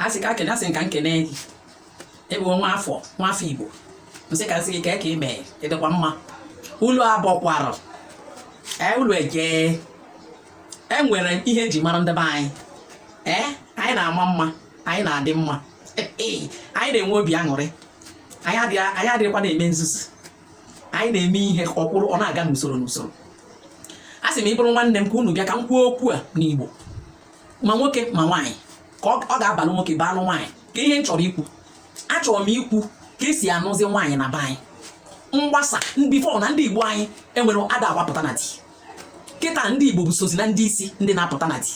asị ka kene asị m ka m kene gị ebe nwa afọ nwa afọ igbo m sị ka m sị gị kee ka ị mee ị dịkwa mma unu abọkwara ee unu eje enwere ihe eji mara ndị be anyị ee anyị na-ama mma anyị na-adị mma anyị na-enwe obi aṅụrị anyị adịghịkwa na-eme nzuzu anyị na-eme ihe ọ kwụrụ ọ na-aga n'usoro n'usoro asị m ị bụrụ nwanne m ka unu bịa ka m kwuo okwu a n'Igbo ma nwoke ma nwaanyị ka ọ ga-abalụ nwoke baalụ nwaanyị ka ihe m chọrọ ikwu achọrọ m ikwu ka esi anụzi nwaanyị na be anyị mgbasa before na ndị igbo anyị enwere ada agbapụta na di kịta ndị igbo bụ sozi na ndị isi ndị na-apụta na di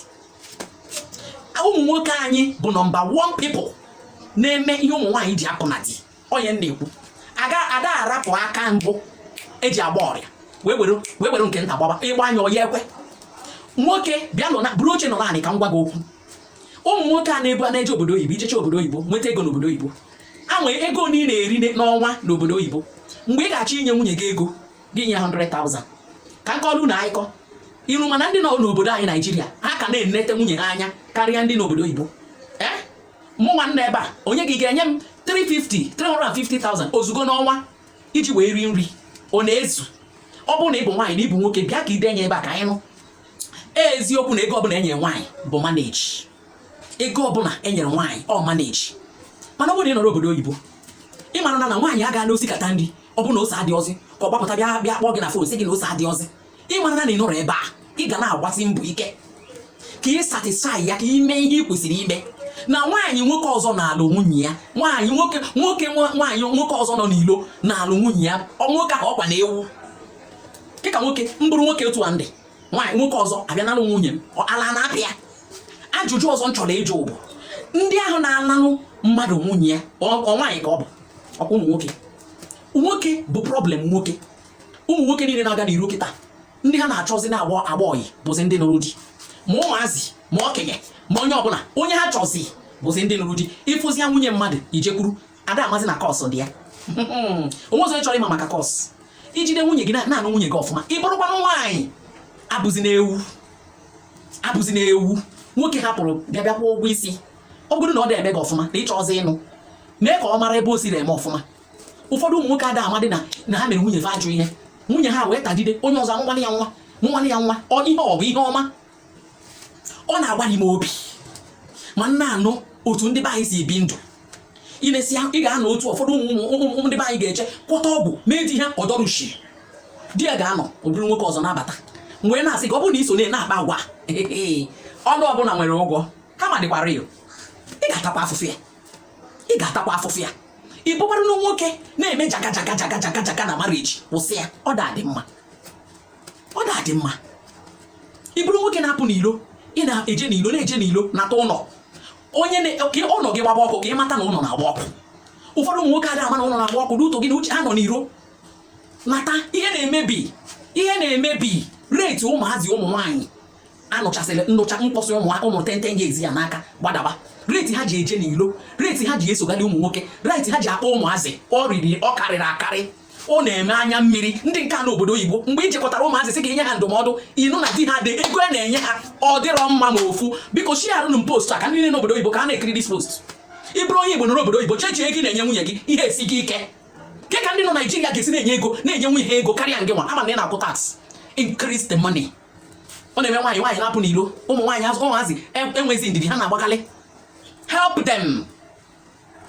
ụmụ nwoke anyị bụ number 1 people na-eme ihe ụmụ nwaanyị ji apụ na di onye ndị ikwu aga ada arapụ aka mbụ eji agba ụrịọ wee were wee were nke nta gbaba ị gbaa ya ọ ya-ekwe nwoke bịa nọ na buru oche nọ n'anị ka m gwa gị okwu ụmụ nwoke a na-ebu a na-eje obodo oyibo ị jechaa obodo oyibo nweta ego n'obodo oyibo ha nwee ego na ị na-eri n'ọnwa n'obodo oyibo mgbe ị ga-achọ inye nwunye gị ego gị nye 100,000 ka m kọrọ unu akụkọ iru mana ndị nọ n'obodo anyị naijiria ha ka na-enete nwunye ha anya karịa ndị n'obodo oyibo mụ nwa nọ ebe a onye gị ga-enye m 350 350,000 ozugbo n'ọnwa iji wee rie nri ọ na-ezu ọ bụrụ na ị bụ nwaanyị na ị bụ nwoke bịa ka i denye ebe a ka anyị nụ eziokwu na ego ọbụla enyere nwaanyị bụ manage ego ọbụla enyere nwaanyị ọ manage mana ọ bụrụ na ị nọrọ obodo oyibo ị mara na na nwaanyị aga na-esikata nri ọ bụrụ na ose adịọzi ka ọ gbapụta bịa bịa kpọọ gị na phone sị gị na ose adịọzi ị mara na ị nọrọ ebe a ị ga na-agbasi mbọ ike ka ị satisfy ya ka ị mee ihe ị kwesịrị ime na nwaanyị nwoke ọzọ na-alụ nwunye ya nwaanyị nwoke nwoke nwaanyị nwoke ọzọ nọ n'ilo na-alụ nwunye ya nwoke ahụ ọkwa na ewu dịka nwoke m bụrụ nwoke otu a ndị nwaanyị nwoke ọzọ abịa nalụ nwunye m ala na-apụ ya ajụjụ ọzọ m chọrọ ịjụ bụ ndị ahụ na-analụ mmadụ nwunye ya ọ nwaanyị ka ọ bụ ọkwa ụmụ nwoke nwoke bụ problem nwoke ụmụ nwoke niile na-aga n'iro kịta ndị ha na-achọzi na-agba ọyị bụzi ndị nụrụ di ma ụmụazị ma okenye ma onye ọbụla onye ha chọzi bụzi ndị nụrụ di ị fụzia nwunye mmadụ i jekwuru ada amazi na curse dị ya onwe ọzọ chọrọ ịma maka curse i jide nwunye gị na-anụ nwunye gị ọfụma ị bụrụkwanụ nwaanyị abụzina ewu abụzina ewu nwoke hapụrụ bịa bịa kwụọ ụgwọ isi ọ bụrụ na ọ dị eme gị ọfụma na ị chọzi ịnụ mee ka ọ mara ebe o siri eme ọfụma ụfọdụ ụmụ nwoke ada amadị na na ha mere nwunye fa ajọ ihe nwunye ha wee tagide onye ọzọ amụmanị ya nwa mụmanị ya nwa ọ ihe ọ bụ ihe ọma ọ na-agbali m obi ma m na-anụ otu ndị be anyị si ebi ndụ i lesịa ị ga-anụ otu ụfọdụ ụmụ ndị be anyị ga-eje gwọta ọgwụ mee di ha ọdọrushi di ya ga-anọ obere nwoke ọzọ na-abata mgbe na-asị ka ọ bụrụ na i so na-akpa agwa ọnụ ọbụla nwere ụgwọ karma dịkwa real ị ga-atakwa afụfụ ya ị ga-atakwa afụfụ ya ị bụkwara na nwoke na-eme jaga jaga jaga jaga jaga na marriage kwụsị ya ọ dịrọ mma ọ dịrọ mma ị bụrụ nwoke na-apụ n'ilo ị na-eje n'ilo na-eje n'ilo nata ụlọ onye ka ụlọ gị gbaba ọkụ ka ị mata na ụlọ na-agba ọkụ ụfọdụ ụmụ nwoke adịghị ama na ụlọ na-agba ọkụ n'uto gị na uche ha nọ n'iro nata ihe na-emebi ihe na-emebi rate ụmụazị ụmụ nwaanyị a nụchasịrị nnụcha mkpọsị ụmụ ụmụ ten ten years ya n'aka gbadaba rate ha ji eje n'ilo rate ha ji esogharị ụmụ nwoke rate ha ji akpọ ụmụazị ọ riri ọ karịrị akarị ọ na-eme anya mmiri ndị nke nọ obodo oyibo mgbe ị jekọtara ụmụazị sị ka i nye ha ndụmọdụ ị nụ na di ha ụdị ego ha na-enye ha ọ dịrọ mma ma ofu biko shiarụnụ m post a ka ndị niile nọ obodo oyibo ka ha na-ekiri this post ị bụrụ onye igbo nọrọ obodo oyibo checkie ego ị na-enye nwunye gị ihe esi gị ike kee ka ndị nọ naijiria ga-esi na-enye ego na-enye nwunye ha ego karịa ngị nwa a ma na ị na-akwụ tax increase the money ọ na-eme nwaanyị nwaanyị na-apụ n'ilo ụmụ nwaanyị azị ụmụazị e, enwezi ndidi ha na-agbakalị help them